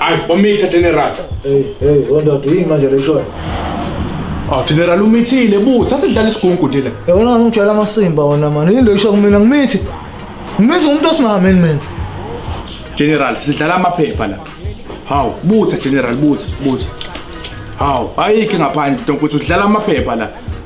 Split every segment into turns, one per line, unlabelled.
Ay, umitha general. Hey, hey, wondoda
yini manje leshoyo? Ah,
general umithile buthi, asidlala isigungu nje le. Yona ngijwayela amasimba
wona mani. Yini loyisho kumina ngimithi. Ngimithi umuntu osimameni mina. General,
sidlala amaphepha la. Hawu, butha general, butha, butha. Hawu, ayikho ngaphandle ntomfuthi udlala amaphepha la.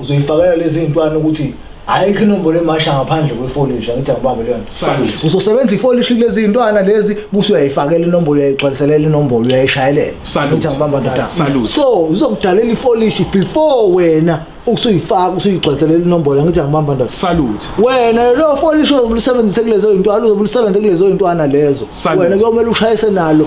uzoyifakela lezi zintwana ukuthi ayikho inombolo emasha ngaphandle kwefolish angithi angibambe leyo nto uzosebenza
ifolish
kulezi zintwana lezi buse uyayifakela inombolo uyayigcwaliselela inombolo uyayishayelela angithi angibamba ndoda so
uzokudalela
ifolish before wena ukusuyifaka usuyigcwaliselela inombolo angithi angibamba ndoda salute wena
lo
folish ozobulisebenzise kulezo zintwana uzobulisebenzise kulezo zintwana lezo wena kuyomele ushayise nalo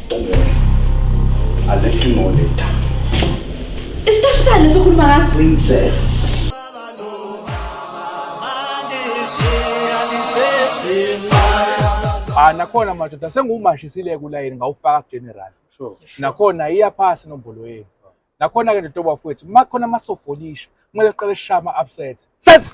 Don't worry. I'll
let you know later. Isitab sani sokhuluma ngaso?
Princess. Ah nakhona madoda sengumashisile kulayini ngawufaka general. Sure. Nakhona iya phasi nombolo yenu. Nakhona ke ndotoba futhi makhona amasofolisha kumele siqale shama upset. Set.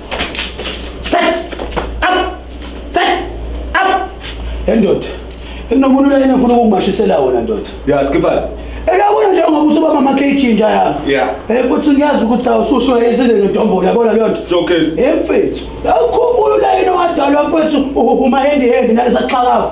Set up. Set up. Endoda. Inomuntu la yena ufuna ukumashisela wona ndoda. Yeah, skipper.
Eyabona nje ngoba
usuba mama KG nje yami. Yeah. Eh futhi ngiyazi
ukuthi
awususho isile ngedombo yabona leyo nto. So case. Hey mfethu. Awukhumbula la yena wadalwa mfethu uhuma hand hand nalesa sixhakavu.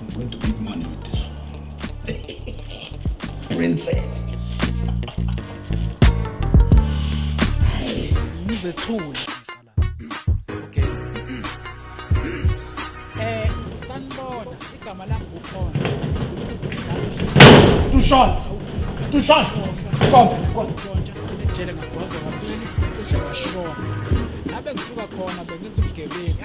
I'm going to make money with this. Princess.
Ngizethule. Okay. Eh, sanibona. Igama lami ukhona.
Tushon. Tushon. Kom, kom.
Ejele ngagwaza kabili, cishe ngashona. Lapho engisuka khona bengizibugebengu.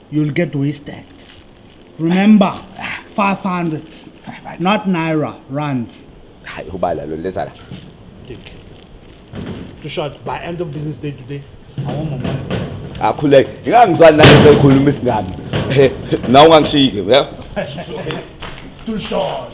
You'll get wasted. Remember, 500, not naira, rands. hayi ubala
lo leza la Take.
Too short. By end of business day today, I want my money. akhuleke
ngingangizwani nalezo ezikhuluma isingami Eh, nawe ungangishiyike ya Too
short.